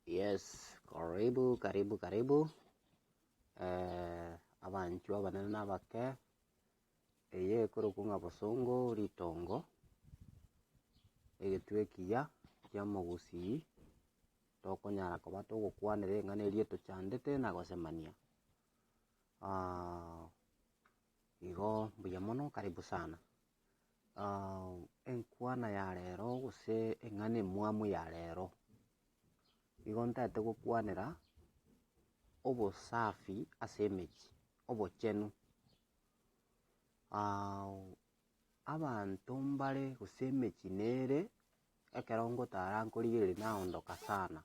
Yes, karibu karibu karibu eh, abanchu abanene na abake eye ekorokwa ng'a bosongo ritongo egetwe ekiya kia mogusii tokonyara koba togokwanera eng'ana eria etochandete na gosemania Ah, Igo mbuya mono karibu sana. Enkwana ya rero gose eng'ana emwamu ya rero, igo ntagete gokwanera obosafi ase emechie, obochenu. Abanto mbare gose emechie nere ekero ngotara nkorigereria naondoka sana.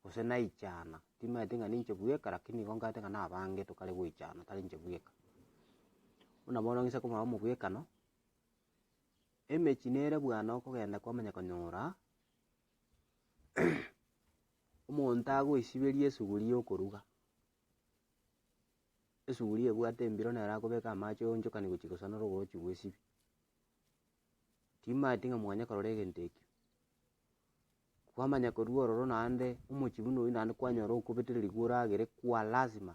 gose naichana, timaete ng'a ninche bweka rakini nigo nkaete ng'a nabange tokare goichana tari inche bweka. Buna bono ng'ise komanya omobwekano, emechie nere bwane okogenda kwamanya konyora omonto agoisiberia esuguri y'okoruga, esuguri ebwate embiro nere akobeka amache oonchokanie gochia gosanera oroche bw'esibia. Timaeti ng'a mwanya korora egento ekio. Kwamanya korwa ororo naende omochie buna oyio naende kwanyora okobetera rigoro agere kwa lazima,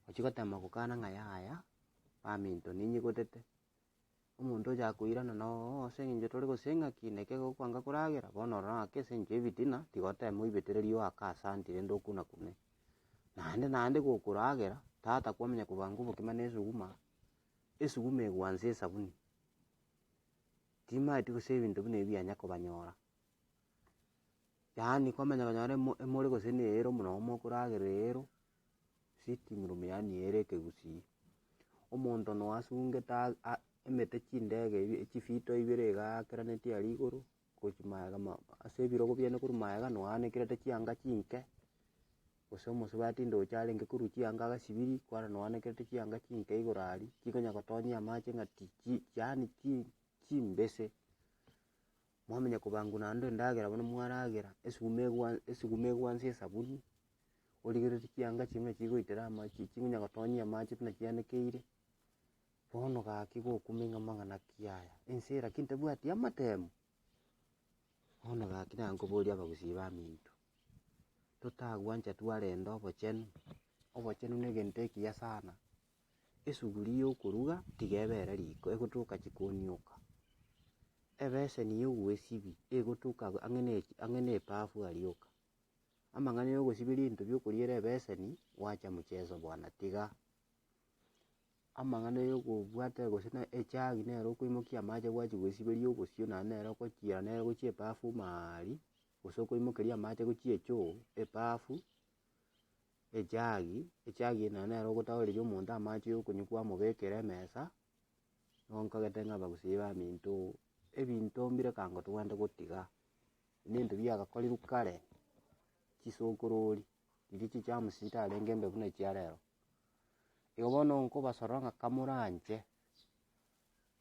ochia gotema gokana ng'a yaya, baminto ninyigotete, omonto ocha koirana na oo ase eng'encho tore gose ng'aki neke gokwanga koragera, bono ororo ng'aki ase eng'encho y'ebitina, tiga oteme oibetererie oaka ase anti rende okuna kune. Naende naende gokoragera, tata kwamanya kobanga obokima na esuguma, esuguma egwansa esabuni. Timaeti gose ebinto buna ebi bianya kobanyora, yaani kwamanya konyora emo emori gose ne eyero buna omo okoragerera eyero, sitting room yaani eyere ekegusii. Omonto noyo asungete aa aa emete chindege ebi chifito ibere iga aakeranetie aria igoro, gochia maega ma ase ebirogo biane korwa maega noyo anekirete chianga chinke. Gose omosubati ndoche arenge korwa chianga agasibiri, kwarana oanekerete chianga chinke igoro aria, chikonya gotonyia amache ng'a ti chi yaani chi chimbese, mwamanya kobangwa naende endagera buna mwaragera, esuguma egwa esuguma egwa nse esabuni, origereri chianga echi buna chigoitera amache chikonya gotonyia amache buna chianekeire, bono gaki gokuma ing'ama ng'a naki yaya, ense eye lakini tabwati amatemo, bono gaki naye nkoboria abagusii baminto. totagwancha twarenta obochenu, obochenu negento ekiya sana. Esuguri yokoruga tiga ebe ere riko egotoka chikoni yoka, ebeseni yogwesibi egotoka ang'e ne ang'e ne ebafu aria yoka. Amang'ana yogosibi rinto biokoriera ebeseni gwacha mucheso bwana tiga. Amang'ana yogobwata gose ne ejagi nero okoimokia amache gwachi gosiberia obosio naende nere ogochia nere ogochia ebafu maaaria. gose okoimokeria amache ase chiechoo, ebafu, ejagi, ejagi eye naende nere ogotagoreria omonto amache ya okonywa kwamobekera emesa, nigo nkagete ng'a abagusii baminto ebinto mbire ekango tobwenerete gotiga, ebinto biagakorigwa kare, chisokorori, riria chichamsti chitarenge mbe buna echiarero. Igo bono nkobasorora ng'a kamoranche.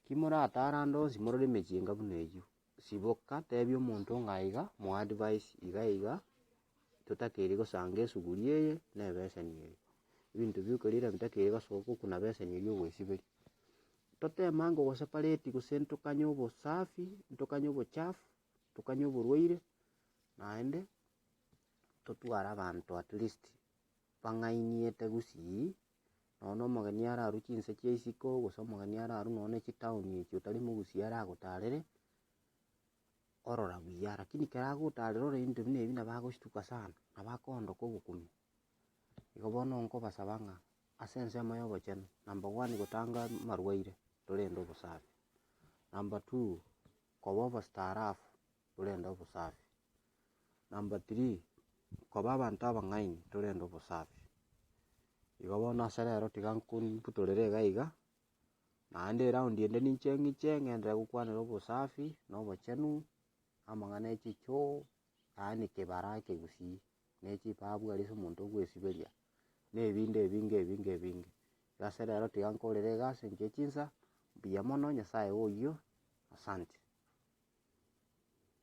Timoratarande onsi morore emechie enga buna eyio. Siboka, tebia omonto ng'a aiga, moe advice iga iga, totakeiri gosanga esuguri eye na ebeseni eye. Ebinto bioka riira bitakeire gosoka okuna beseni eria ogoesiberia. Totemange ogosepareti gose ntokanye obosafi, ntokanye obochafu, ntokanye oborwaire, naende totware abanto at least bang'aini etagusi eyio. Nonya nomogeni are arwe chinse chia isiko, gose omogeni are arwe nonya ne chitown echi otari mogusia aragotarere, orora buya, rakini ekero agotarera orore ebinto buna ebi nabo agostuka sana, nabo akoondoka ogokumia. Igo bono nkobasaba ng'a ase ensemo ya obochenu, number one gotanga amarwaire, torende obosafi, number two koba obostaarabu torende obosafi. Number three, koba abanto abang'aini torende obosafi. Igo bono ase rero tiga nkombutorere iga iga, naende eround ende ninche ng'iche ng'enderere gokwanera obosafi, na obochenu, na amang'ana ya echichoo, yaani kebara ekegusii, na echipabu aria ase omonto okwesiberia, na ebinde ebinge ebinge ebinge. Igo ase rero tiga nkorere egasi engiya chinsa, mbuya mono, Nyasaye oyio, asante.